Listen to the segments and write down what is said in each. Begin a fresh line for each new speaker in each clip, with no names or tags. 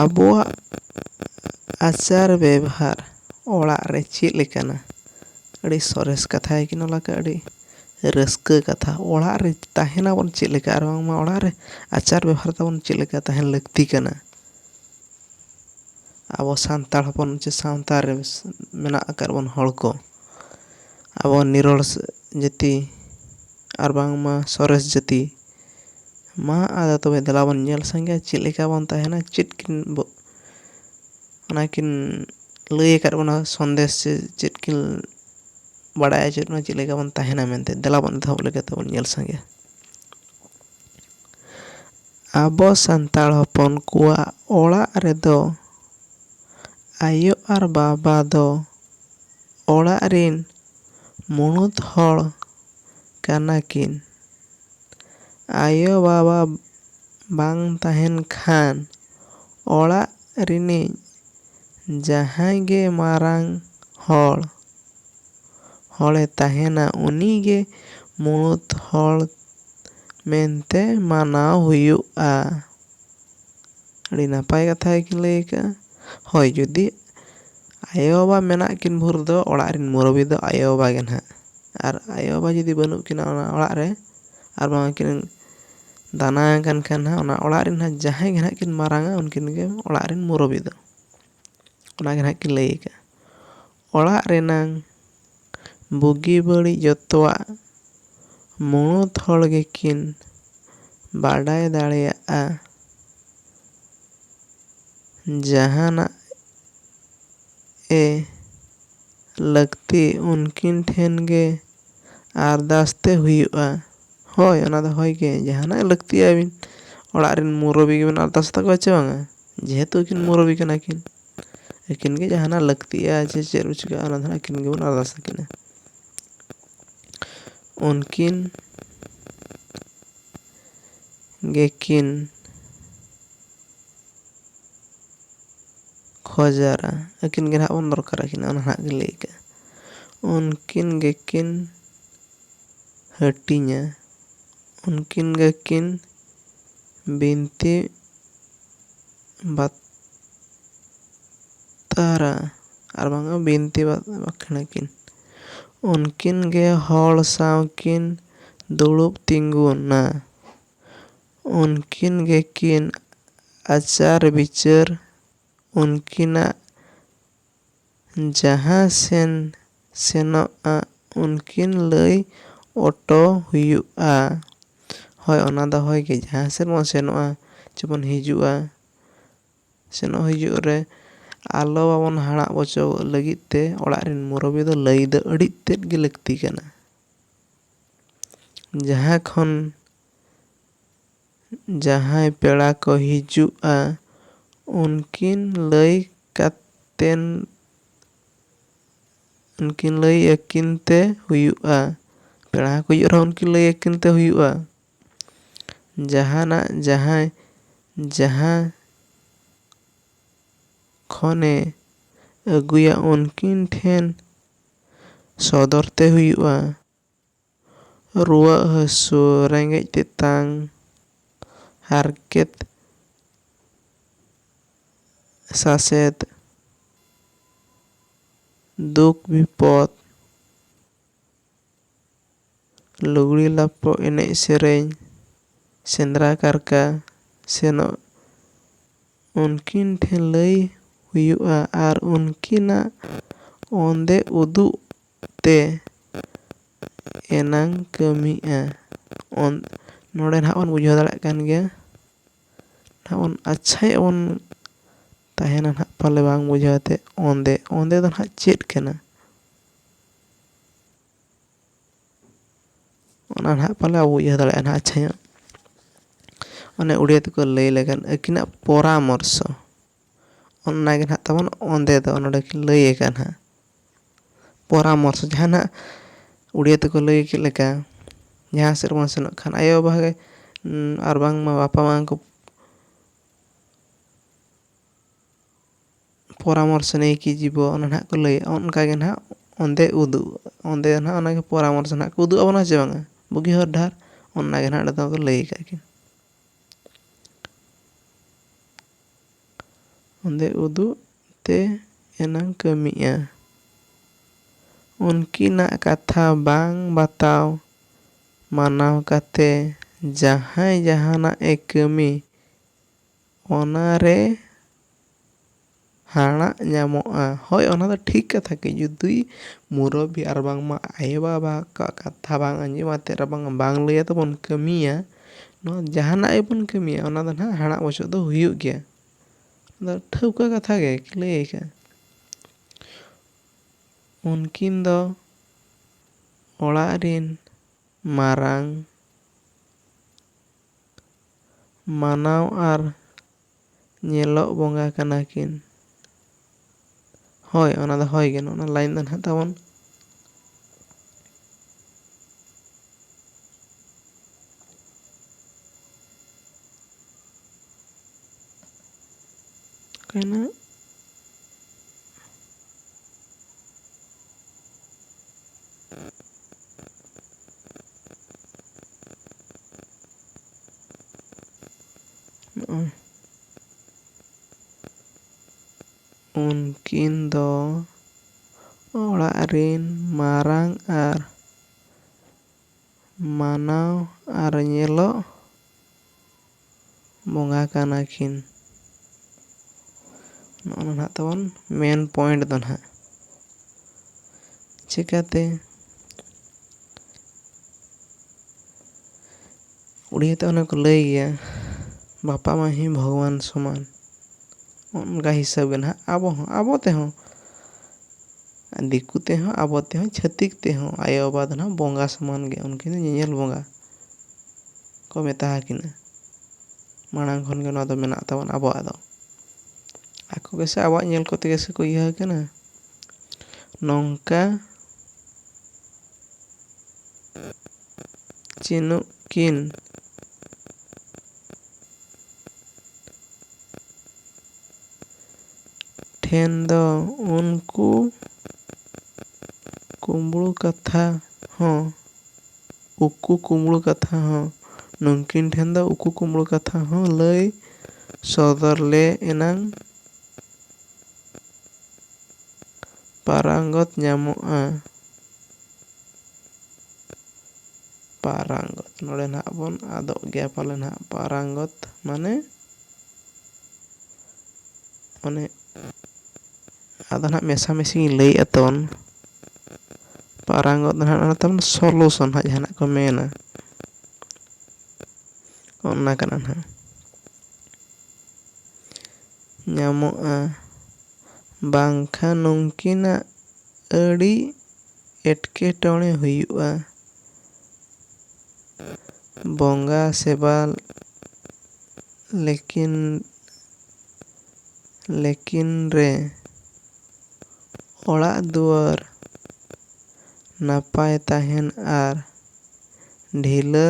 ᱟᱵᱚᱣᱟᱜ ᱟᱪᱟᱨ ᱵᱮᱵᱷᱟᱨ ᱚᱲᱟᱜ ᱨᱮ ᱪᱮᱫ ᱞᱮᱠᱟᱱᱟ ᱟᱹᱰᱤ ᱥᱚᱨᱮᱥ ᱠᱟᱛᱷᱟ ᱜᱮ ᱠᱤᱱ ᱚᱞ ᱟᱠᱟᱫᱼᱟ ᱟᱹᱰᱤ ᱨᱟᱹᱥᱠᱟᱹ ᱠᱟᱛᱷᱟ ᱚᱲᱟᱜ ᱨᱮ ᱛᱟᱦᱮᱸ ᱱᱟᱵᱚᱱ ᱪᱮᱫ ᱞᱮᱠᱟ ᱟᱨ ᱵᱟᱝᱢᱟ ᱚᱲᱟᱜ ᱨᱮ ᱟᱪᱟᱨ ᱵᱮᱵᱷᱟᱨ ᱛᱟᱵᱚᱱ ᱪᱮᱫ ᱞᱮᱠᱟ ᱛᱟᱦᱮᱱ ᱞᱟᱹᱠᱛᱤ ᱠᱟᱱᱟ ᱟᱵᱚ ᱥᱟᱱᱛᱟᱲ ᱦᱚᱯᱚᱱ ᱥᱮ ᱥᱟᱶᱛᱟ ᱨᱮ ᱢᱮᱱᱟᱜ ᱟᱠᱟᱫ ᱵᱚᱱ ᱦᱚᱲ ᱠᱚ ᱟᱵᱚ ᱱᱤᱨᱚᱲ ᱡᱟᱹᱛᱤ ᱟᱨ ᱵᱟᱝᱢᱟ ᱥᱚᱨᱮᱥ ᱡᱟᱹᱛᱤ ᱢᱟ ᱟᱫᱚ ᱛᱚᱵᱮ ᱫᱮᱞᱟ ᱵᱚᱱ ᱧᱮᱞ ᱥᱟᱸᱜᱮᱭᱟ ᱪᱮᱫ ᱞᱮᱠᱟ ᱵᱚᱱ ᱛᱟᱦᱮᱱᱟ ᱪᱮᱫ ᱠᱤᱱ ᱚᱱᱟ ᱠᱤᱱ ᱞᱟᱹᱭ ᱟᱠᱟᱫ ᱵᱚᱱᱟ ᱥᱚᱱᱫᱮᱥ ᱥᱮ ᱪᱮᱫ ᱠᱤᱱ ᱵᱟᱲᱟᱭ ᱦᱚᱪᱚᱭᱮᱫ ᱵᱚᱱᱟ ᱪᱮᱫ ᱞᱮᱠᱟ ᱵᱚᱱ ᱛᱟᱦᱮᱱᱟ ᱢᱮᱱᱛᱮ ᱫᱮᱞᱟ ᱵᱚᱱ ᱮᱛᱚᱦᱚᱵ ᱞᱮᱜᱮ ᱛᱚᱵᱚᱱ ᱧᱮᱞ ᱥᱟᱸᱜᱮᱭᱟ ᱟᱵᱚ ᱥᱟᱱᱛᱟᱲ ᱦᱚᱯᱚᱱ ᱠᱚᱣᱟᱜ ᱚᱲᱟᱜ ᱨᱮᱫᱚ ᱟᱭᱳ ᱟᱨ ᱵᱟᱵᱟ ᱫᱚ ᱚᱲᱟᱜ ᱨᱤᱱ ᱢᱩᱬᱩᱛ ᱦᱚᱲ ᱠᱟᱱᱟ ᱠᱤᱱ᱾ ᱟᱭᱳ ᱵᱟᱵᱟ ᱵᱟᱝ ᱛᱟᱦᱮᱸᱱ ᱠᱷᱟᱱ ᱚᱲᱟᱜ ᱨᱤᱱᱤᱡ ᱡᱟᱦᱟᱸᱭ ᱜᱮ ᱢᱟᱨᱟᱝ ᱦᱚᱲ ᱦᱚᱲᱮ ᱛᱟᱦᱮᱸᱱᱟ ᱩᱱᱤ ᱜᱮ ᱢᱩᱬᱩᱛ ᱦᱚᱲ ᱢᱮᱱᱛᱮ ᱢᱟᱱᱟᱣ ᱦᱩᱭᱩᱜᱼᱟ᱾ ᱟᱹᱰᱤ ᱱᱟᱯᱟᱭ ᱠᱟᱛᱷᱟ ᱜᱮᱠᱤᱱ ᱞᱟᱹᱭ ᱟᱠᱟᱫᱼᱟ ᱦᱳᱭ ᱡᱩᱫᱤ ᱟᱭᱳ ᱵᱟᱵᱟ ᱢᱮᱱᱟᱜ ᱠᱤᱱ ᱵᱷᱳᱨ ᱫᱚ ᱚᱲᱟᱜ ᱨᱮᱱ ᱢᱩᱨᱚᱵᱤ ᱫᱚ ᱟᱭᱳ ᱵᱟᱵᱟ ᱜᱮ ᱱᱟᱦᱟᱜ ᱟᱨ ᱟᱭᱳ ᱵᱟᱵᱟ ᱡᱩᱫᱤ ᱵᱟᱹᱱᱩᱜ ᱠᱤᱱᱟ ᱚᱱᱟ ᱚᱲᱟᱜ ᱨᱮ ᱟᱨ ᱵᱟᱝ ᱠᱤᱱ ᱫᱟᱱᱟ ᱟᱠᱟᱱ ᱠᱷᱟᱱ ᱦᱟᱸᱜ ᱚᱱᱟ ᱚᱲᱟᱜ ᱨᱮᱱ ᱦᱟᱸᱜ ᱡᱟᱦᱟᱸᱭ ᱜᱮ ᱦᱟᱸᱜ ᱠᱤᱱ ᱢᱟᱨᱟᱝᱟ ᱩᱱᱠᱤᱱ ᱜᱮ ᱚᱲᱟᱜ ᱨᱮᱱ ᱢᱩᱨᱚᱵᱤ ᱫᱚ ᱚᱱᱟ ᱜᱮ ᱦᱟᱸᱜ ᱠᱤᱱ ᱞᱟᱹᱭ ᱟᱠᱟᱫᱼᱟ ᱚᱲᱟᱜ ᱨᱮᱱᱟᱝ ᱵᱩᱜᱤ ᱵᱟᱹᱲᱤᱡ ᱡᱚᱛᱚᱣᱟᱜ ᱢᱩᱬᱩᱛ ᱦᱚᱲ ᱜᱮᱠᱤᱱ ᱵᱟᱰᱟᱭ ᱫᱟᱲᱮᱭᱟᱜᱼᱟ᱾ ᱡᱟᱦᱟᱱᱟᱜ ᱮ ᱞᱟᱹᱠᱛᱤ ᱩᱱᱠᱤᱱ ᱴᱷᱮᱱ ᱜᱮ ᱟᱨᱫᱟᱥ ᱛᱮ ᱦᱩᱭᱩᱜᱼᱟ᱾ ᱦᱚᱭ ᱚᱱᱟ ᱫᱚ ᱦᱚᱭ ᱜᱮ ᱡᱟᱦᱟᱱᱟᱜ ᱞᱟᱹᱠᱛᱤ ᱟᱹᱵᱤᱱ ᱚᱲᱟᱜ ᱨᱮᱱ ᱢᱩᱨᱚᱵᱤ ᱜᱮᱵᱤᱱ ᱟᱨᱫᱟᱥ ᱛᱟᱠᱚᱣᱟ ᱪᱮ ᱵᱟᱝᱟ ᱡᱮᱦᱮᱛᱩ ᱩᱱᱠᱤᱱ ᱢᱩᱨᱚᱵᱤ ᱠᱟᱱᱟ ᱠᱤᱱ᱾ ᱟᱹᱠᱤᱱ ᱜᱮ ᱡᱟᱦᱟᱱᱟᱜ ᱞᱟᱹᱠᱛᱤᱜᱼᱟ ᱥᱮ ᱪᱮᱫ ᱠᱚ ᱪᱤᱠᱟᱹᱜᱼᱟ ᱚᱱᱟ ᱫᱚ ᱦᱟᱸᱜ ᱟᱹᱠᱤᱱ ᱜᱮᱵᱚᱱ ᱟᱨᱫᱟᱥ ᱟᱹᱠᱤᱱᱟ ᱩᱱᱠᱤᱱ ᱜᱮᱠᱤᱱ ᱠᱷᱚᱡᱟᱨᱟ ᱟᱹᱠᱤᱱ ᱜᱮ ᱱᱟᱦᱟᱜ ᱵᱚᱱ ᱫᱚᱨᱠᱟᱨ ᱟᱹᱠᱤᱱᱟ ᱚᱱᱟ ᱱᱟᱦᱟᱜ ᱜᱮ ᱞᱟᱹᱭ ᱠᱟᱜᱼᱟ ᱩᱱᱠᱤᱱ ᱜᱮᱠᱤᱱ ᱦᱟᱹᱴᱤᱧᱟ ᱩᱱᱠᱤᱱ ᱜᱮᱠᱤᱱ ᱵᱤᱱᱛᱤ ᱵᱟᱛᱟᱨᱟ ᱟᱨ ᱵᱟᱝ ᱵᱤᱱᱛᱤ ᱵᱟᱠᱷᱮᱬ ᱟᱹᱠᱤᱱ᱾ ᱩᱱᱠᱤᱱ ᱜᱮ ᱦᱚᱲ ᱥᱟᱶ ᱠᱤᱱ ᱫᱩᱲᱩᱵ ᱛᱤᱸᱜᱩᱱᱟ᱾ ᱩᱱᱠᱤᱱ ᱜᱮ ᱠᱤᱱ ᱟᱪᱟᱨ ᱵᱤᱪᱟᱹᱨ ᱩᱱᱠᱤᱱᱟᱜ ᱡᱟᱦᱟᱸ ᱥᱮᱱ ᱥᱮᱱᱚᱜᱼᱟ ᱩᱱᱠᱤᱱ ᱞᱟᱹᱭ ᱚᱴᱚ ᱦᱩᱭᱩᱜᱼᱟ᱾ ᱦᱚᱭ ᱚᱱᱟ ᱫᱚ ᱦᱚᱭ ᱜᱮ ᱡᱟᱦᱟᱸ ᱥᱮᱫ ᱵᱚᱱ ᱥᱮᱱᱚᱜᱼᱟ ᱪᱮ ᱵᱚᱱ ᱦᱤᱡᱩᱜᱼᱟ ᱥᱮᱱᱚᱜ ᱦᱤᱡᱩᱜ ᱨᱮ ᱟᱞᱚ ᱵᱟᱵᱚᱱ ᱦᱟᱲᱟᱜ ᱵᱚᱪᱚᱜ ᱞᱟᱹᱜᱤᱫ ᱛᱮ ᱚᱲᱟᱜ ᱨᱮᱱ ᱢᱩᱨᱚᱵᱤ ᱫᱚ ᱞᱟᱹᱭ ᱫᱚ ᱟᱹᱰᱤ ᱛᱮᱫ ᱜᱮ ᱞᱟᱹᱠᱛᱤ ᱠᱟᱱᱟ᱾ ᱡᱟᱦᱟᱸ ᱠᱷᱚᱱ ᱡᱟᱦᱟᱸᱭ ᱯᱮᱲᱟ ᱠᱚ ᱦᱤᱡᱩᱜᱼᱟ ᱩᱱᱠᱤᱱ ᱞᱟᱹᱭ ᱠᱟᱛᱮᱱ ᱩᱱᱠᱤᱱ ᱞᱟᱹᱭ ᱟᱹᱠᱤᱱ ᱛᱮ ᱦᱩᱭᱩᱜᱼᱟ ᱯᱮᱲᱟ ᱦᱚᱸᱠᱚ ᱦᱤᱡᱩᱜ ᱨᱮᱦᱚᱸ ᱩᱱᱠᱤᱱ ᱞᱟᱹᱭ ᱟᱹᱠᱤᱱ ᱛᱮ ᱦᱩᱭᱩᱜᱼᱟ ᱡᱟᱦᱟᱱᱟᱜ ᱡᱟᱦᱟᱸᱭ ᱡᱟᱦᱟᱸ ᱠᱷᱚᱱᱮ ᱟᱹᱜᱩᱭᱟ ᱩᱱᱠᱤᱱ ᱴᱷᱮᱱ ᱥᱚᱫᱚᱨ ᱛᱮ ᱦᱩᱭᱩᱜᱼᱟ ᱨᱩᱣᱟᱹᱜ ᱦᱟᱹᱥᱩ ᱨᱮᱸᱜᱮᱡ ᱛᱮᱛᱟᱝ ᱦᱟᱨᱠᱮᱛ ᱥᱟᱥᱮᱛ ᱫᱩᱠ ᱵᱤᱯᱚᱫᱽ ᱞᱩᱜᱽᱲᱤ ᱞᱟᱯᱚ ᱮᱱᱮᱡ ᱥᱮᱨᱮᱧ ᱥᱮᱸᱫᱽᱨᱟ ᱠᱟᱨᱠᱟ ᱥᱮᱱᱚᱜ ᱩᱱᱠᱤᱱ ᱴᱷᱮᱱ ᱞᱟᱹᱭ ᱦᱩᱭᱩᱜᱼᱟ ᱟᱨ ᱩᱱᱠᱤᱱᱟᱜ ᱚᱸᱫᱮ ᱩᱫᱩᱜ ᱛᱮ ᱮᱱᱟᱝ ᱠᱟᱹᱢᱤᱜᱼᱟ ᱱᱚᱰᱮ ᱱᱟᱦᱟᱜ ᱵᱚᱱ ᱵᱩᱡᱷᱟᱹᱣ ᱫᱟᱲᱮᱭᱟᱜ ᱠᱟᱱ ᱜᱮᱭᱟ ᱱᱟᱦᱟᱜ ᱵᱚᱱ ᱟᱪᱪᱷᱟ ᱧᱚᱜ ᱵᱚᱱ ᱛᱟᱦᱮᱱᱟ ᱱᱟᱦᱟᱜ ᱯᱟᱞᱮ ᱵᱟᱝ ᱵᱩᱡᱷᱟᱹᱣ ᱟᱛᱮᱫ ᱚᱸᱫᱮ ᱚᱸᱫᱮ ᱫᱚ ᱱᱟᱦᱟᱜ ᱪᱮᱫ ᱠᱟᱱᱟ ᱚᱱᱟ ᱱᱟᱦᱟᱜ ᱯᱟᱞᱮ ᱵᱟᱵᱚ ᱩᱭᱦᱟᱹᱨ ᱫᱟᱲᱮᱭᱟᱜᱼᱟ ᱱᱟᱦᱟᱜ ᱟᱪᱪᱷᱟ ᱧᱚᱜ ᱚᱱᱮ ᱩᱲᱤᱭᱟ ᱛᱮᱠᱚ ᱞᱟᱹᱭ ᱞᱮᱠᱟᱱ ᱟᱹᱠᱤᱱᱟᱜ ᱯᱚᱨᱟᱢᱚᱨᱥᱚ ᱚᱱᱟ ᱜᱮ ᱱᱟᱦᱟᱜ ᱛᱟᱵᱚᱱ ᱚᱸᱫᱮ ᱫᱚ ᱱᱚᱰᱮ ᱠᱤᱱ ᱞᱟᱹᱭ ᱟᱠᱟᱫᱼᱟ ᱱᱟᱦᱟᱜ ᱯᱚᱨᱟᱢᱚᱨᱥᱚ ᱡᱟᱦᱟᱸ ᱱᱟᱦᱟᱜ ᱩᱲᱤᱭᱟ ᱛᱮᱠᱚ ᱞᱟᱹᱭ ᱠᱮᱫ ᱞᱮᱠᱟ ᱡᱟᱦᱟᱸ ᱥᱮᱫ ᱵᱚᱱ ᱥᱮᱱᱚᱜ ᱠᱷᱟᱱ ᱟᱭᱳ ᱵᱟᱵᱟ ᱜᱮ ᱟᱨ ᱵᱟᱝᱢᱟ ᱵᱟᱯᱟ ᱢᱟ ᱠᱚ ᱯᱚᱨᱟᱢᱚᱨᱥᱚ ᱱᱮᱭ ᱠᱤ ᱡᱤᱵᱚ ᱚᱱᱟ ᱱᱟᱦᱟᱜ ᱠᱚ ᱞᱟᱹᱭᱟ ᱚᱱᱠᱟ ᱜᱮ ᱱᱟᱦᱟᱜ ᱚᱸᱫᱮ ᱩᱫᱩᱜ ᱚᱸᱫᱮ ᱱᱟᱦᱟᱜ ᱚᱱᱟ ᱜᱮ ᱯᱚᱨᱟᱢᱚᱨᱥᱚ ᱱᱟᱦᱟᱜ ᱠᱚ ᱩᱫᱩᱜ ᱟᱵᱚᱱᱟ ᱥᱮ ᱵᱟᱝᱟ ᱵᱩᱜᱤ ᱦᱚᱨ ᱰᱟᱦᱟᱨ ᱚᱱᱟ ᱜᱮ ᱱᱟᱦᱟᱜ ᱚᱸᱰᱮ ᱫᱚᱠᱚ ᱞᱟᱹᱭ ᱟᱠᱟᱫ ᱠᱤᱱ ᱚᱸᱫᱮ ᱩᱫᱩᱜ ᱛᱮ ᱮᱱᱟᱝ ᱠᱟᱹᱢᱤᱜᱼᱟ᱾ ᱩᱱᱠᱤᱱᱟᱜ ᱠᱟᱛᱷᱟ ᱵᱟᱝ ᱵᱟᱛᱟᱣ ᱢᱟᱱᱟᱣ ᱠᱟᱛᱮ ᱡᱟᱦᱟᱸᱭ ᱡᱟᱦᱟᱱᱟᱜ ᱮ ᱠᱟᱹᱢᱤ ᱚᱱᱟ ᱨᱮ ᱦᱟᱬᱟᱜ ᱧᱟᱢᱚᱜᱼᱟ᱾ ᱦᱚᱭ ᱚᱱᱟ ᱫᱚ ᱴᱷᱤᱠ ᱠᱟᱛᱷᱟ ᱜᱮ ᱡᱩᱫᱤ ᱢᱩᱨᱚᱵᱤ ᱟᱨ ᱵᱟᱝᱢᱟ ᱟᱭᱳ ᱵᱟᱵᱟ ᱠᱚᱣᱟᱜ ᱠᱟᱛᱷᱟ ᱵᱟᱝ ᱟᱸᱡᱚᱢ ᱟᱛᱮ ᱟᱨ ᱵᱟᱝ ᱵᱟᱝ ᱞᱟᱹᱭ ᱟᱛᱮ ᱵᱚᱱ ᱠᱟᱹᱢᱤᱭᱟ᱾ ᱱᱚᱣᱟ ᱡᱟᱦᱟᱱᱟᱜ ᱜᱮᱵᱚᱱ ᱠᱟᱹᱢᱤᱭᱟ ᱚᱱᱟ ᱫᱚ ᱱᱟᱦᱟᱜ ᱦᱟᱲᱟᱜ ᱵᱚᱪᱚᱜ ᱫᱚ ᱦᱩᱭᱩᱜ ᱜᱮᱭᱟ ᱟᱫᱚ ᱴᱷᱟᱹᱣᱠᱟᱹ ᱠᱟᱛᱷᱟ ᱜᱮ ᱞᱟᱹᱭ ᱟᱠᱟᱫᱼᱟ ᱩᱱᱠᱤᱱ ᱫᱚ ᱚᱲᱟᱜ ᱨᱤᱱ ᱢᱟᱨᱟᱝ ᱢᱟᱱᱟᱣ ᱟᱨ ᱧᱮᱞᱚᱜ ᱵᱚᱸᱜᱟ ᱠᱟᱱᱟ ᱠᱤᱱ᱾ ᱦᱚᱭ ᱚᱱᱟ ᱫᱚ ᱦᱚᱭ ᱜᱮ ᱱᱚᱜᱼᱚ ᱱᱚᱣᱟ ᱞᱟᱭᱤᱱ ᱫᱚ ᱱᱟᱦᱟᱜ ᱛᱟᱵᱚᱱ᱾ ᱚᱠᱟᱭᱮᱱᱟ? ᱱᱚᱜᱼᱚᱭ ᱩᱱᱠᱤᱱ ᱫᱚ ᱚᱲᱟᱜ ᱨᱤᱱ ᱢᱟᱨᱟᱝ ᱟᱨ ᱢᱟᱱᱟᱣ ᱟᱨ ᱧᱮᱞᱚᱜ ᱵᱚᱸᱜᱟ ᱠᱟᱱᱟ ᱠᱤᱱ ᱱᱚᱜᱼᱚ ᱱᱚᱣᱟ ᱱᱟᱦᱟᱜ ᱛᱟᱵᱚᱱ ᱢᱮᱱ ᱯᱚᱭᱮᱱᱴ ᱫᱚ ᱱᱟᱦᱟᱜ ᱪᱤᱠᱟᱹᱛᱮ ᱩᱲᱤᱭᱟ ᱛᱮ ᱚᱱᱮ ᱠᱚ ᱞᱟᱹᱭ ᱜᱮᱭᱟ ᱵᱟᱯᱟ ᱢᱟᱹᱡᱷᱤ ᱵᱷᱚᱜᱽᱣᱟᱱ ᱥᱚᱢᱟᱱ ᱚᱱᱠᱟ ᱦᱤᱥᱟᱹᱵ ᱜᱮ ᱱᱟᱜ ᱟᱵᱚ ᱦᱚᱸ ᱟᱵᱚ ᱛᱮᱦᱚᱸ ᱫᱤᱠᱩ ᱛᱮᱦᱚᱸ ᱟᱵᱚ ᱛᱮᱦᱚᱸ ᱪᱷᱟᱹᱛᱤᱠ ᱛᱮᱦᱚᱸ ᱟᱭᱳᱼᱵᱟᱵᱟ ᱫᱚ ᱱᱟᱜ ᱵᱚᱸᱜᱟ ᱥᱚᱢᱟᱱ ᱜᱮ ᱩᱱᱠᱤᱱ ᱫᱚ ᱧᱮᱧᱮᱞ ᱵᱚᱸᱜᱟ ᱠᱚ ᱢᱮᱛᱟ ᱟᱹᱠᱤᱱᱟ ᱢᱟᱲᱟᱝ ᱠᱷᱚᱱ ᱜᱮ ᱱᱚᱣᱟ ᱫᱚ ᱢᱮᱱᱟᱜ ᱛᱟᱵᱚᱱᱟ ᱟᱵᱚᱣᱟᱜ ᱫᱚ ᱟᱠᱚ ᱜᱮᱥᱮ ᱟᱵᱚᱣᱟᱜ ᱧᱮᱞ ᱠᱚᱛᱮ ᱜᱮᱥᱮ ᱠᱚ ᱤᱭᱟᱹ ᱟᱠᱟᱱᱟ ᱱᱚᱝᱠᱟ ᱪᱤᱱᱩᱜ ᱠᱤᱱ᱾ ᱴᱷᱮᱱ ᱫᱚ ᱩᱱᱠᱩ ᱠᱩᱢᱵᱽᱲᱩ ᱠᱟᱛᱷᱟ ᱦᱚᱸ ᱩᱠᱩ ᱠᱩᱢᱵᱽᱲᱩ ᱠᱟᱛᱷᱟ ᱦᱚᱸ ᱱᱩᱝᱠᱤᱱ ᱴᱷᱮᱱ ᱫᱚ ᱩᱠᱩ ᱠᱩᱢᱵᱽᱲᱩ ᱠᱟᱛᱷᱟ ᱦᱚᱸ ᱞᱟᱹᱭ ᱥᱚᱫᱚᱨ ᱞᱮ ᱮᱱᱟᱝ ᱯᱟᱨᱟᱝᱜᱚᱛ ᱧᱟᱢᱚᱜᱼᱟ᱾ ᱯᱟᱨᱟᱝᱜᱚᱛ ᱱᱚᱰᱮ ᱱᱟᱜ ᱵᱚᱱ ᱟᱫᱚᱜ ᱜᱮᱭᱟ ᱯᱟᱞᱮ ᱱᱟᱜ ᱯᱟᱨᱟᱝᱜᱚᱛ ᱢᱟᱱᱮ ᱚᱱᱮ ᱟᱫᱚ ᱱᱟᱜ ᱢᱮᱥᱟᱢᱤᱥᱤᱧ ᱞᱟᱹᱭᱮᱫᱼᱟ ᱛᱟᱵᱚᱱ ᱯᱟᱨᱟᱝᱜᱚᱛ ᱫᱚ ᱱᱟᱜ ᱚᱱᱟ ᱛᱟᱵᱚᱱ ᱥᱚᱞᱩᱥᱚᱱ ᱦᱟᱸᱜ ᱡᱟᱦᱟᱱᱟᱜ ᱠᱚ ᱢᱮᱱᱟ ᱚᱱᱟ ᱠᱟᱱᱟ ᱱᱟᱜ ᱧᱟᱢᱚᱜᱼᱟ ᱵᱟᱝᱠᱷᱟᱱ ᱱᱩᱝᱠᱤᱱᱟᱜ ᱟᱹᱰᱤ ᱮᱴᱠᱮᱴᱚᱬᱮ ᱦᱩᱭᱩᱜᱼᱟ᱾ ᱵᱚᱸᱜᱟ ᱥᱮᱵᱟ ᱞᱮᱠᱤᱱ ᱞᱮᱠᱤᱱ ᱨᱮ ᱚᱲᱟᱜ ᱫᱩᱣᱟᱹᱨ ᱱᱟᱯᱟᱭ ᱛᱟᱦᱮᱱ ᱟᱨ ᱰᱷᱤᱞᱟᱹ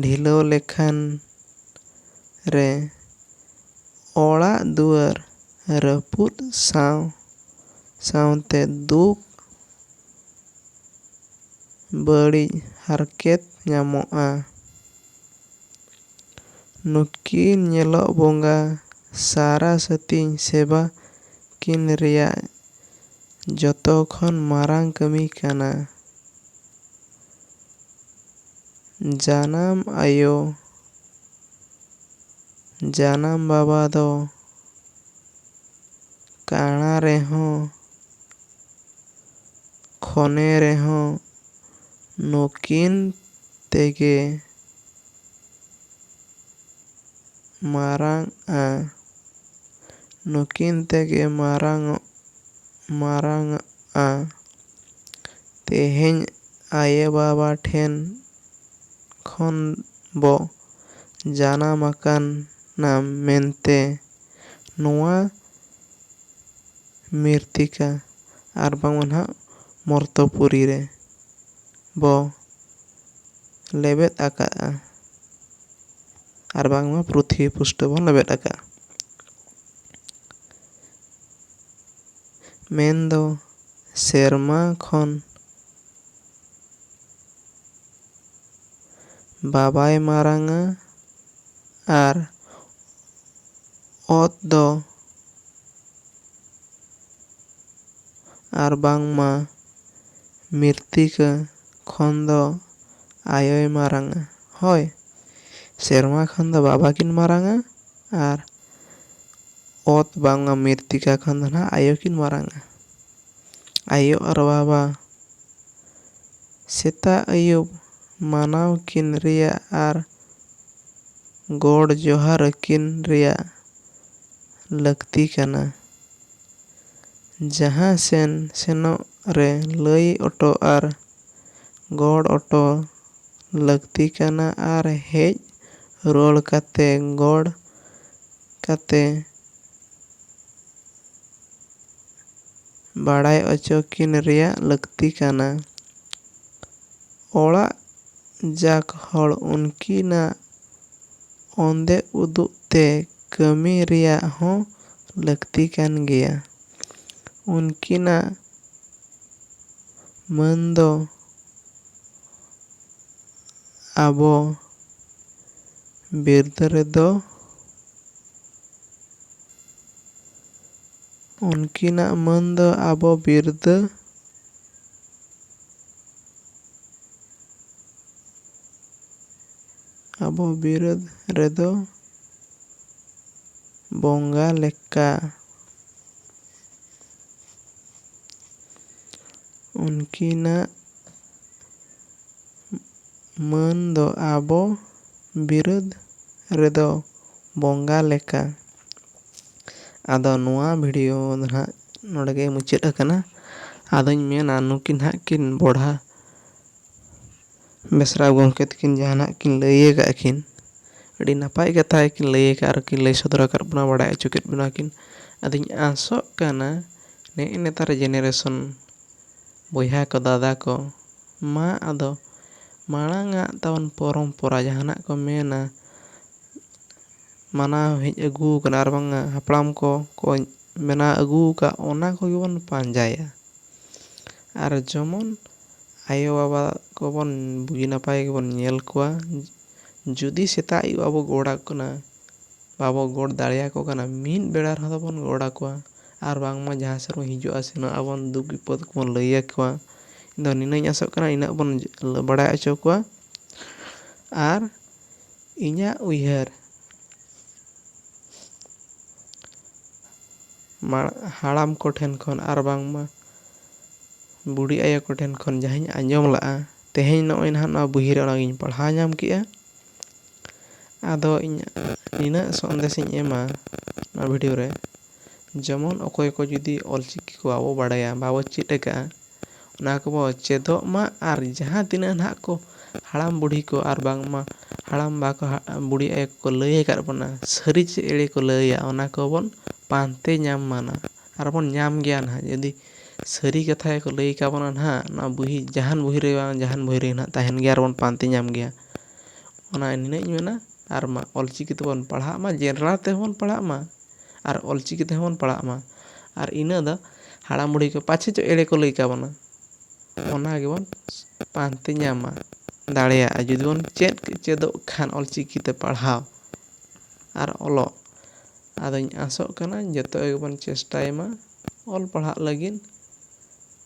ᱰᱷᱤᱞᱟᱹᱣ ᱞᱮᱠᱷᱟᱱ ᱨᱮ ᱚᱲᱟᱜ ᱫᱩᱣᱟᱹᱨ ᱨᱟᱹᱯᱩᱫ ᱥᱟᱶ ᱥᱟᱶᱛᱮ ᱫᱩᱠ ᱵᱟᱹᱲᱤᱡ ᱦᱟᱨᱠᱮᱛ ᱧᱟᱢᱚᱜᱼᱟ᱾ ᱱᱩᱠᱤᱱ ᱧᱮᱞᱚᱜ ᱵᱚᱸᱜᱟ ᱥᱟᱨᱟ ᱥᱟᱹᱛᱤᱧ ᱥᱮᱵᱟ ᱠᱤᱱ ᱨᱮᱭᱟᱜ ᱡᱚᱛᱚ ᱠᱷᱚᱱ ᱢᱟᱨᱟᱝ ᱠᱟᱹᱢᱤ ᱠᱟᱱᱟ᱾ ᱡᱟᱱᱟᱢ ᱟᱭᱳ ᱡᱟᱱᱟᱢ ᱵᱟᱵᱟ ᱫᱚ᱾ ᱠᱟᱬᱟ ᱨᱮᱦᱚᱸ ᱠᱷᱚᱱᱮ ᱨᱮᱦᱚᱸ ᱱᱩᱠᱤᱱ ᱛᱮᱜᱮ ᱢᱟᱨᱟᱝᱼᱟ᱾ ᱱᱩᱠᱤᱱ ᱛᱮᱜᱮ ᱢᱟᱨᱟᱝᱚᱜ ᱢᱟᱨᱟᱝᱼᱟ᱾ ᱛᱮᱦᱮᱧ ᱟᱭᱳ ᱵᱟᱵᱟ ᱴᱷᱮᱱ ᱠᱷᱚᱱ ᱵᱚ᱾ ᱡᱟᱱᱟᱢ ᱟᱠᱟᱱᱟ ᱢᱮᱱᱛᱮ ᱱᱚᱣᱟ ᱢᱤᱨᱛᱤᱠᱟ ᱟᱨ ᱵᱟᱝᱢᱟ ᱱᱟᱜ ᱢᱚᱨᱛᱚ ᱯᱩᱨᱤ ᱨᱮ ᱵᱚ ᱞᱮᱵᱮᱫ ᱟᱠᱟᱫᱼᱟ ᱟᱨ ᱵᱟᱝᱢᱟ ᱯᱨᱤᱛᱷᱤᱵᱤ ᱯᱩᱥᱴᱟᱹᱣ ᱵᱚᱱ ᱞᱮᱵᱮᱫ ᱟᱠᱟᱫᱼᱟ ᱢᱮᱱ ᱫᱚ ᱥᱮᱨᱢᱟ ᱠᱷᱚᱱ ᱵᱟᱵᱟᱭ ᱢᱟᱨᱟᱝᱟ ᱟᱨ ᱚᱛ ᱫᱚ ᱟᱨ ᱵᱟᱝᱢᱟ ᱢᱤᱨᱛᱤᱠᱟᱹ ᱠᱷᱚᱱ ᱫᱚ ᱟᱭᱳᱭ ᱢᱟᱨᱟᱝᱟ ᱦᱳᱭ ᱥᱮᱨᱢᱟ ᱠᱷᱚᱱ ᱫᱚ ᱵᱟᱵᱟ ᱠᱤᱱ ᱢᱟᱨᱟᱝᱟ ᱟᱨ ᱚᱛ ᱵᱟᱝᱢᱟ ᱢᱤᱨᱛᱤᱠᱟ ᱠᱷᱚᱱ ᱫᱚ ᱱᱟᱦᱟᱜ ᱟᱭᱳ ᱠᱤᱱ ᱢᱟᱨᱟᱝᱟ ᱟᱭᱳ ᱟᱨ ᱵᱟᱵᱟ ᱥᱮᱛᱟᱜ ᱟᱹᱭᱩᱵ ᱢᱟᱱᱟᱣ ᱠᱤᱱ ᱨᱮᱭᱟᱜ ᱟᱨ ᱜᱚᱰ ᱡᱚᱦᱟᱨ ᱟᱹᱠᱤᱱ ᱨᱮᱭᱟᱜ ᱞᱟᱹᱠᱛᱤ ᱠᱟᱱᱟ᱾ ᱡᱟᱦᱟᱸ ᱥᱮᱱ ᱥᱮᱱᱚᱜ ᱨᱮ ᱞᱟᱹᱭ ᱚᱴᱚ ᱟᱨ ᱜᱚᱰ ᱚᱴᱚ ᱞᱟᱹᱠᱛᱤ ᱠᱟᱱᱟ ᱟᱨ ᱦᱮᱡ ᱨᱩᱣᱟᱹᱲ ᱠᱟᱛᱮ ᱜᱚᱰ ᱠᱟᱛᱮ ᱵᱟᱲᱟᱭ ᱚᱪᱚ ᱠᱤᱱ ᱨᱮᱭᱟᱜ ᱞᱟᱹᱠᱛᱤ ᱠᱟᱱᱟ᱾ ᱚᱲᱟᱜ ᱡᱟᱠ ᱦᱚᱲ ᱩᱱᱠᱤᱱᱟᱜ ᱚᱱᱫᱮ ᱩᱫᱩᱜ ᱛᱮ ᱠᱟᱹᱢᱤ ᱨᱮᱭᱟᱜ ᱦᱚᱸ ᱞᱟᱹᱠᱛᱤ ᱠᱟᱱ ᱜᱮᱭᱟ᱾ ᱩᱱᱠᱤᱱᱟᱜ ᱢᱟᱹᱱ ᱫᱚ ᱟᱵᱚ ᱵᱤᱨᱫᱟᱹ ᱨᱮᱫᱚ ᱩᱱᱠᱤᱱᱟᱜ ᱢᱟᱹᱱ ᱫᱚ ᱟᱵᱚ ᱵᱤᱨᱫᱟᱹ᱾ ᱟᱵᱚ ᱵᱤᱨᱟᱹᱫ ᱨᱮᱫᱚ ᱵᱚᱝᱜᱟ ᱞᱮᱠᱟ᱾ ᱩᱱᱠᱤᱱᱟᱜ ᱢᱟᱹᱱ ᱫᱚ ᱟᱵᱚ ᱵᱤᱨᱟᱹᱫ ᱨᱮᱫᱚ ᱵᱚᱝᱜᱟ ᱞᱮᱠᱟ᱾ ᱟᱫᱚ ᱱᱚᱣᱟ ᱵᱷᱤᱰᱤᱭᱳ ᱫᱚ ᱱᱟᱦᱟᱜ ᱱᱚᱰᱮ ᱜᱮ ᱢᱩᱪᱟᱹᱫ ᱟᱠᱟᱱᱟ ᱟᱫᱚᱧ ᱢᱮᱱᱟ ᱱᱩᱠᱤᱱ ᱱᱟᱦᱟᱜ ᱠᱤᱱ ᱵᱚᱲᱦᱟ ᱵᱮᱥᱨᱟ ᱜᱚᱢᱠᱮ ᱛᱟᱹᱠᱤᱱ ᱡᱟᱦᱟᱱᱟᱜ ᱠᱤᱱ ᱞᱟᱹᱭ ᱟᱠᱟᱫ ᱠᱤᱱ ᱟᱹᱰᱤ ᱱᱟᱯᱟᱭ ᱠᱟᱛᱷᱟ ᱜᱮᱠᱤᱱ ᱞᱟᱹᱭ ᱟᱠᱟᱫ ᱟᱨ ᱠᱤᱱ ᱞᱟᱹᱭ ᱥᱚᱫᱚᱨ ᱟᱠᱟᱫ ᱵᱚᱱᱟ ᱵᱟᱲᱟᱭ ᱦᱚᱪᱚ ᱠᱮᱫ ᱵᱚᱱᱟ ᱠᱤᱱ ᱟᱫᱚᱧ ᱟᱥᱚᱜ ᱠᱟᱱᱟ ᱱᱮᱜᱼᱮ ᱱᱮᱛᱟᱨ ᱡᱮᱱᱟᱨᱮᱥᱚᱱ ᱵᱚᱭᱦᱟ ᱠᱚ ᱫᱟᱫᱟ ᱠᱚ ᱢᱟ ᱟᱫᱚ ᱢᱟᱲᱟᱝ ᱟᱜ ᱛᱟᱵᱚᱱ ᱯᱚᱨᱚᱢᱯᱚᱨᱟ ᱡᱟᱦᱟᱱᱟᱜ ᱠᱚ ᱢᱮᱱᱟ ᱢᱟᱱᱟᱣ ᱦᱮᱡ ᱟᱹᱜᱩ ᱟᱠᱟᱱᱟ ᱟᱨ ᱵᱟᱝ ᱦᱟᱯᱲᱟᱢ ᱠᱚ ᱠᱚ ᱵᱮᱱᱟᱣ ᱟᱹᱜᱩ ᱟᱠᱟᱫ ᱚᱱᱟ ᱠᱚᱜᱮ ᱵᱚᱱ ᱯᱟᱸᱡᱟᱭᱟ ᱟᱨ ᱡᱮᱢᱚᱱ ᱟᱭᱳ ᱵᱟᱵᱟ ᱠᱚᱵᱚᱱ ᱵᱩᱜᱤ ᱱᱟᱯᱟᱭ ᱜᱮᱵᱚᱱ ᱧᱮᱞ ᱠᱚᱣᱟ ᱡᱩᱫᱤ ᱥᱮᱛᱟᱜ ᱟᱹᱭᱩᱵ ᱟᱵᱚ ᱜᱚᱰ ᱟᱠᱚ ᱠᱟᱱᱟ ᱵᱟᱵᱚ ᱜᱚᱰ ᱫᱟᱲᱮ ᱟᱠᱚ ᱠᱟᱱᱟ ᱢᱤᱫ ᱵᱮᱲᱟ ᱨᱮᱦᱚᱸ ᱫᱚᱵᱚᱱ ᱜᱚᱰ ᱟᱠᱚᱣᱟ ᱟᱨ ᱵᱟᱝᱢᱟ ᱡᱟᱦᱟᱸ ᱥᱮᱫ ᱵᱚᱱ ᱦᱤᱡᱩᱜᱼᱟ ᱥᱮᱱᱚᱜ ᱟᱵᱚᱱ ᱫᱩᱠ ᱵᱤᱯᱚᱫ ᱠᱚᱵᱚᱱ ᱞᱟᱹᱭ ᱟᱠᱚᱣᱟ ᱤᱧ ᱫᱚ ᱱᱤᱱᱟᱹᱜ ᱤᱧ ᱟᱥᱚᱜ ᱠᱟᱱᱟ ᱤᱱᱟᱹᱜ ᱵᱚᱱ ᱵᱟᱲᱟᱭ ᱦᱚᱪᱚ ᱠᱚᱣᱟ ᱟᱨ ᱤᱧᱟᱜ ᱩᱭᱦᱟᱹᱨ ᱦᱟᱲᱟᱢ ᱠᱚ ᱴᱷᱮᱱ ᱠᱷᱚᱱ ᱟᱨ ᱵᱟᱝᱢᱟ ᱵᱩᱰᱷᱤ ᱟᱭᱳ ᱠᱚ ᱴᱷᱮᱱ ᱠᱷᱚᱱ ᱡᱟᱦᱟᱸᱧ ᱟᱸᱡᱚᱢ ᱞᱟᱜᱼᱟ ᱛᱮᱦᱮᱧ ᱱᱚᱜᱼᱚᱭ ᱱᱟᱦᱟᱜ ᱱᱚᱣᱟ ᱵᱩᱦᱤ ᱨᱮ ᱚᱱᱟ ᱜᱤᱧ ᱯᱟᱲᱦᱟᱣ ᱧᱟᱢ ᱠᱮᱜᱼᱟ ᱟᱫᱚ ᱤᱧ ᱱᱤᱱᱟᱹᱜ ᱥᱚᱱᱫᱮᱥ ᱤᱧ ᱮᱢᱟ ᱱᱚᱣᱟ ᱵᱷᱤᱰᱤᱭᱳ ᱨᱮ ᱡᱮᱢᱚᱱ ᱚᱠᱚᱭ ᱠᱚ ᱡᱩᱫᱤ ᱚᱞ ᱪᱤᱠᱤ ᱠᱚ ᱵᱟᱵᱚ ᱵᱟᱲᱟᱭᱟ ᱵᱟᱵᱚ ᱪᱮᱫ ᱟᱠᱟᱫᱼᱟ ᱚᱱᱟ ᱠᱚᱵᱚ ᱪᱮᱫᱚᱜ ᱢᱟ ᱟᱨ ᱡᱟᱦᱟᱸ ᱛᱤᱱᱟᱹᱜ ᱱᱟᱦᱟᱜ ᱠᱚ ᱦᱟᱲᱟᱢ ᱵᱩᱰᱷᱤ ᱠᱚ ᱟᱨ ᱵᱟᱝᱢᱟ ᱦᱟᱲᱟᱢ ᱵᱟ ᱠᱚ ᱵᱩᱰᱷᱤ ᱟᱭᱳ ᱠᱚᱠᱚ ᱞᱟᱹᱭ ᱟᱠᱟᱫ ᱵᱚᱱᱟ ᱥᱟᱹᱨᱤ ᱪᱮ ᱮᱲᱮ ᱠᱚ ᱞᱟᱹᱭᱟ ᱚᱱᱟ ᱠᱚᱵᱚᱱ ᱯᱟᱱᱛᱮ ᱧᱟᱢ ᱢᱟ ᱱᱟᱜ ᱟᱨ ᱵᱚᱱ ᱧᱟᱢ ᱜᱮᱭᱟ ᱱᱟᱦᱟᱜ ᱡᱩᱫᱤ ᱥᱟᱹᱨᱤ ᱠᱟᱛᱷᱟ ᱜᱮᱠᱚ ᱞᱟᱹᱭ ᱟᱠᱟᱫ ᱵᱚᱱᱟ ᱱᱟᱦᱟᱜ ᱱᱚᱣᱟ ᱵᱩᱦᱤ ᱡᱟᱦᱟᱱ ᱵᱩᱦᱤ ᱨᱮ ᱵᱟᱝ ᱡᱟᱦᱟᱱ ᱵᱩᱦᱤ ᱨᱮᱜᱮ ᱱᱟᱦᱟᱜ ᱛᱟᱦᱮᱱ ᱜᱮᱭᱟ ᱟᱨ ᱵᱚᱱ ᱯᱟᱱᱛᱮ ᱧᱟᱢ ᱜᱮᱭᱟ ᱚᱱᱟ ᱱᱤᱱᱟᱹᱜ ᱤᱧ ᱢᱮᱱᱟ ᱟᱨ ᱢᱟ ᱚᱞ ᱪᱤᱠᱤ ᱛᱮᱵᱚᱱ ᱯᱟᱲᱦᱟᱜ ᱢᱟ ᱡᱮᱱᱨᱟᱞ ᱛᱮᱦᱚᱸ ᱵᱚᱱ ᱯᱟᱲᱦᱟᱜ ᱢᱟ ᱟᱨ ᱚᱞᱪᱤᱠᱤ ᱛᱮᱦᱚᱸ ᱵᱚᱱ ᱯᱟᱲᱦᱟᱜ ᱢᱟ ᱟᱨ ᱤᱱᱟᱹ ᱫᱚ ᱦᱟᱲᱟᱢ ᱵᱩᱲᱦᱤ ᱠᱚ ᱯᱟᱪᱷᱮ ᱪᱚ ᱮᱲᱮ ᱠᱚ ᱞᱟᱹᱭ ᱠᱟᱵᱚᱱᱟ ᱚᱱᱟ ᱜᱮᱵᱚᱱ ᱯᱟᱱᱛᱮ ᱧᱟᱢᱟ ᱫᱟᱲᱮᱭᱟᱜᱼᱟ ᱡᱩᱫᱤ ᱵᱚᱱ ᱪᱮᱫ ᱪᱮᱫᱚᱜ ᱠᱷᱟᱱ ᱚᱞᱪᱤᱠᱤ ᱛᱮ ᱯᱟᱲᱦᱟᱣ ᱟᱨ ᱚᱞᱚᱜ ᱟᱫᱚᱧ ᱟᱥᱚᱜ ᱠᱟᱱᱟ ᱡᱚᱛᱚ ᱜᱮᱵᱚᱱ ᱪᱮᱥᱴᱟᱭ ᱢᱟ ᱚᱞ ᱯᱟᱲᱦᱟᱜ ᱞᱟᱹᱜᱤᱫ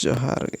ᱡᱚᱦᱟᱨ ᱜᱮ